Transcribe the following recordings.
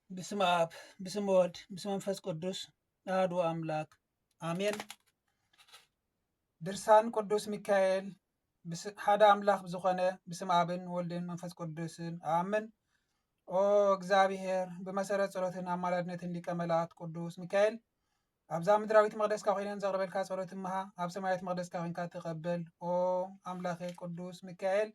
ብስመ አብ ብስመ ወልድ ብስመ መንፈስ ቅዱስ አሐዱ አምላክ አሜን። ድርሳን ቅዱስ ሚካኤል ሓደ አምላክ ብዝኾነ ብስመ አብን ወልድን መንፈስ ቅዱስን አምን። ኦ እግዚአብሔር ብመሰረት ጸሎትን አማላድነትን ሊቀ መላእክት ቅዱስ ሚካኤል ኣብዛ ምድራዊት መቅደስካ ኮይነን ዘቅርበልካ ጸሎት እምሃ ኣብ ሰማያዊት መቅደስካ ኮንካ ተቀበል ኦ ኣምላኬ ቅዱስ ሚካኤል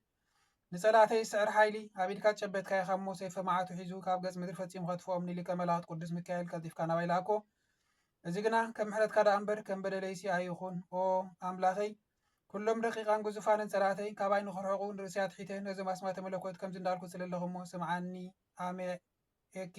ንጸላእተይ ዝስዕር ሓይሊ ኣብ ኢድካ ጨበትካ ኢኻ እሞ ሰይፈ መዓቱ ሒዙ ካብ ገጽ ምድሪ ፈጺሙ ከጥፍኦም ንሊቀ መላእክት ቅዱስ ሚካኤል ቀልጢፍካ ናባይ ላኣኮ እዚ ግና ከም ምሕረትካ ደኣ እምበር ከም በደለይሲ ኣይኹን ኦ ኣምላኸይ ኩሎም ደቂቃን ግዙፋንን ጸላእተይ ካባይ ንክርሕቑ ንርእሲ ኣትሒተ ነዞም ኣስማተ መለኮት ከምዚ እንዳልኩ ጽለለኹ እሞ ስምዓኒ ኣሜ ኤኬ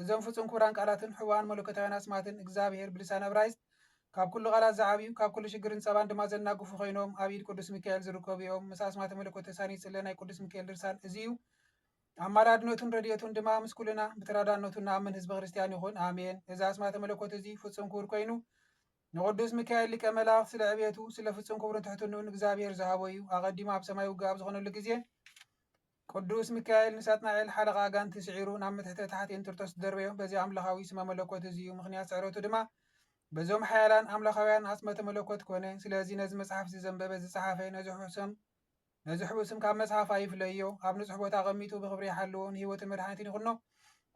እዞም ፍጹም ክቡራን ቃላትን ሕቡኣን መለኮታውያን ኣስማትን እግዚኣብሔር ብልሳን እብራይስጥ ካብ ኩሉ ቃላት ዝዓብዩ ካብ ኩሉ ሽግርን ጸባን ድማ ዘናግፉ ኮይኖም ኣብ ኢድ ቅዱስ ሚካኤል ዝርከቡ እዮም ምስ ኣስማተ መለኮት ተሳንዩ ዝጽለ ናይ ቅዱስ ሚካኤል ድርሳን እዚ እዩ ኣማላድነቱን ረድኤቱን ድማ ምስ ኩልና ብተራዳእነቱ እንኣምን ህዝበ ክርስቲያን ይኹን ኣሜን እዚ ኣስማተ መለኮት እዚ ፍጹም ክቡር ኮይኑ ንቅዱስ ሚካኤል ሊቀ መላእክት ስለ ዕብየቱ ስለ ፍጹም ክብሩን ትሕትንኡን እግዚኣብሔር ዝሃቦ እዩ ኣቐዲሙ ኣብ ሰማይ ውግእ ኣብ ዝኾነሉ ግዜ ቅዱስ ሚካኤል ንሳጥናኤል ሓለቓ ኣጋንንቲ ስዒሩ ናብ ምትሕተ ታሕቲ እንጥርጦስ ዝደርበዮ በዚ ኣምላኻዊ ስመ መለኮት እዚ እዩ፣ ምኽንያት ስዕረቱ ድማ በዞም ሓያላን ኣምላኻውያን ኣጽመተ መለኮት ኮነ። ስለዚ ነዚ መጽሓፍ እዚ ዘንበበ ዝጸሓፈ ነዚ ሕቡእ ስም ነዚ ሕቡእ ስም ካብ መጽሓፍ ኣይፍለዮ፣ ኣብ ንጹሕ ቦታ ኣቐሚጡ ብኽብሪ ይሓልዎ፣ ንህይወትን መድሓኒትን ይኹኖ፣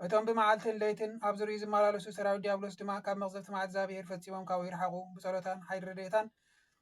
እቶም ብመዓልትን ለይትን ኣብ ዙርይኡ ዝመላለሱ ሰራዊት ዲያብሎስ ድማ ካብ መቕዘፍቲ ማዕት እግዝኣብሄር ፈጺሞም ካብኡ ይርሓቑ፣ ብጸሎታን ሓይሊ ረድኤታን።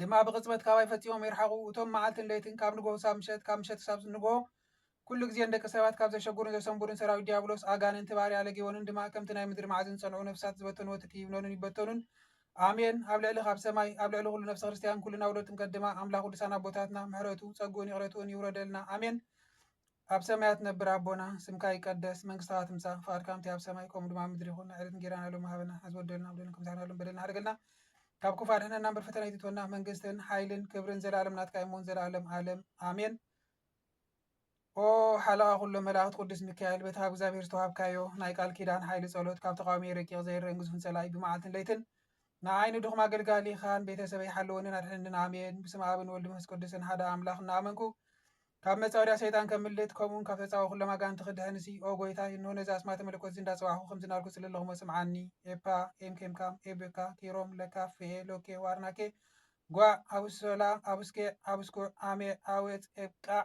ድማ ብቕጽበት ካባይ ፈጺሞም ይርሓቑ። እቶም መዓልትን ለይትን ካብ ንግሆ ክሳብ ምሸት፣ ካብ ምሸት ክሳብ ንግሆ ኩሉ ግዜ ንደቂ ሰባት ካብ ዘሸጉሩን ዘሰንቡዱን ሰራዊት ዲያብሎስ፣ ኣጋንንቲ፣ ባርያ ለጊዎንን ድማ ከምቲ ናይ ምድሪ ማዕዝን ዝጸንዑ ነፍሳት ዝበተንዎ ትኪ ይብነኑን ይበተኑን። ኣሜን ኣብ ልዕሊ ካብ ሰማይ ኣብ ልዕሊ ኩሉ ነፍሰ ክርስትያን ኩልና ውሉድ ጥምቀት ድማ ኣምላኽ ቅዱሳን ኣቦታትና ምሕረቱ፣ ጸግኡን ይቕረትኡን ይውረደልና። ኣሜን። ኣብ ሰማያት ነብር ኣቦና ስምካ ይቀደስ መንግስትካ ትምጻእ ፍቃድካ ከምቲ ኣብ ሰማይ ከምኡ ድማ ኣብ ምድሪ ይኩን ንዕለት እንጌራና ሎሚ ሃበና ሐዚ ወደልና ብደልና ከም ዝሓና ሎም በደልና ሓደገልና ካብ ክፉ ኣድሕነና እምበር ፈተና ኣይትእትወና መንግስትን ሓይልን ክብርን ዘላለም ናትካ ይሙን ዘላለም ዓለም ኣሜን ኦ ሓለቓ ኩሎም መላእኽቲ ቅዱስ ሚካኤል በቲ ካብ እግዚኣብሔር ዝተዋሃብካዮ ናይ ቃል ኪዳን ሓይሊ ጸሎት ካብ ተቃዋሚ ረቂቕ ዘይረን ግዙፍን ጸላኢ ብመዓልትን ለይትን ንዓይ ንድኹም ኣገልጋሊኻ ንቤተሰበይ ሓልወንን ኣድሕነንን ኣሜን ብስመ ኣብን ወልድ መንፈስ ቅዱስን ሓደ ኣምላኽ እናኣመንኩ ካብ መጻወድያ ሰይጣን ከምልጥ ከምኡውን ካብ ተጻቦ ኩሎም ኣጋንንቲ ክድሕን ሲ ኦ ጎይታይ እንሆ ነዚ ኣስማተ መለኮት እዚ እንዳጸዋዕኩ ከምዚ ናልኩ እጽሊ ኣለኹሞ ስምዓኒ ኤፓ ኤም ኬምካም ኤብካ ኪሮም ለካ ፍኤ ሎኬ ዋርናኬ ጓዕ ኣቡስሶላ ኣቡስኬዕ ኣቡስኩዕ ኣሜዕ ኣዌጽ ኤብቃዕ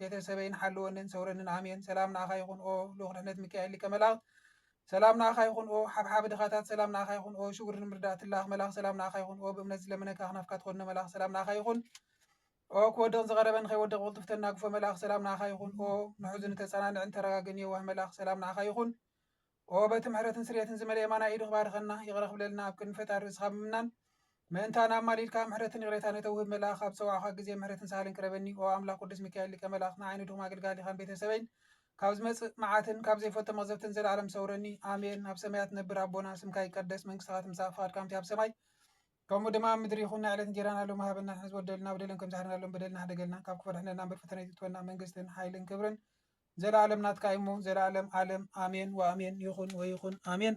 ቤተሰበይን ሓልወንን ሰውረንን ኣሜን ሰላም ንኣኻ ይኹን ኦ ልኡኽ ድሕነት ሚካኤል ሊቀ መላእክት ሰላም ንኣኻ ይኹን ኦ ሓብሓብ ድኻታት ሰላም ንኣኻ ይኹን ኦ ሽጉር ንምርዳእ ትላኣኽ መላኽ ሰላም ንኣኻ ይኹን ኦ ብእምነት ዝለመነካ ኣኽናፍካ ትኸድኖ መላኽ ሰላም ንኣኻ ይኹን ኦ ክወድቕ ዝቐረበ ንኸይወድቕ ብቕልጡፍ ተናግፎ መላኽ ሰላም ንኣኻ ይኹን ኦ ንሑዙን እተጸናንዕን ተረጋግእን የዋህ መላኽ ሰላም ንኣኻ ይኹን ኦ በቲ ምሕረትን ስርየትን ዝመልአ የማናይ ኢዱ ክባርኸና ይቕረ ክብለልና ኣብ ቅድሚ ፈጣሪ ርእስኻ ብምናን ምእንታና ኣማሊድካ ምሕረትን ይቕሬታ ነተውህብ መልኣኽ ኣብ ዝጸዋዕኳ ግዜ ምሕረትን ሳህልን ቅረበኒ ኦ ኣምላኽ ቅዱስ ሚካኤል ሊቀ መላእኽት ንዓይኒ ድኹም ኣገልጋሊኻን ቤተሰበይን ካብ ዝመጽእ መዓትን ካብ ዘይፈልጦ መቕዘፍትን ዘለኣለም ሰውረኒ ኣሜን ኣብ ሰማያት ነብር ኣቦና ስምካ ይቀደስ መንግስትኻ ትምጻእ ፍቓድካ ከምቲ ኣብ ሰማይ ከምኡ ድማ ኣብ ምድሪ ይኹን ናይ ዕለት እንጀራና ሎሚ ሃበና ሕዚ ወደልና በደለን ከም ዝሓርናሎም በደልና ሕደገልና ካብ ክፉ ኣድሕነና እምበር ፈተና ይትትወና መንግስትን ሓይልን ክብርን ዘላኣለም ናትካ እዩሞ ዘላኣለም ኣለም ኣሜን ወኣሜን ይኹን ወይኹን ኣሜን።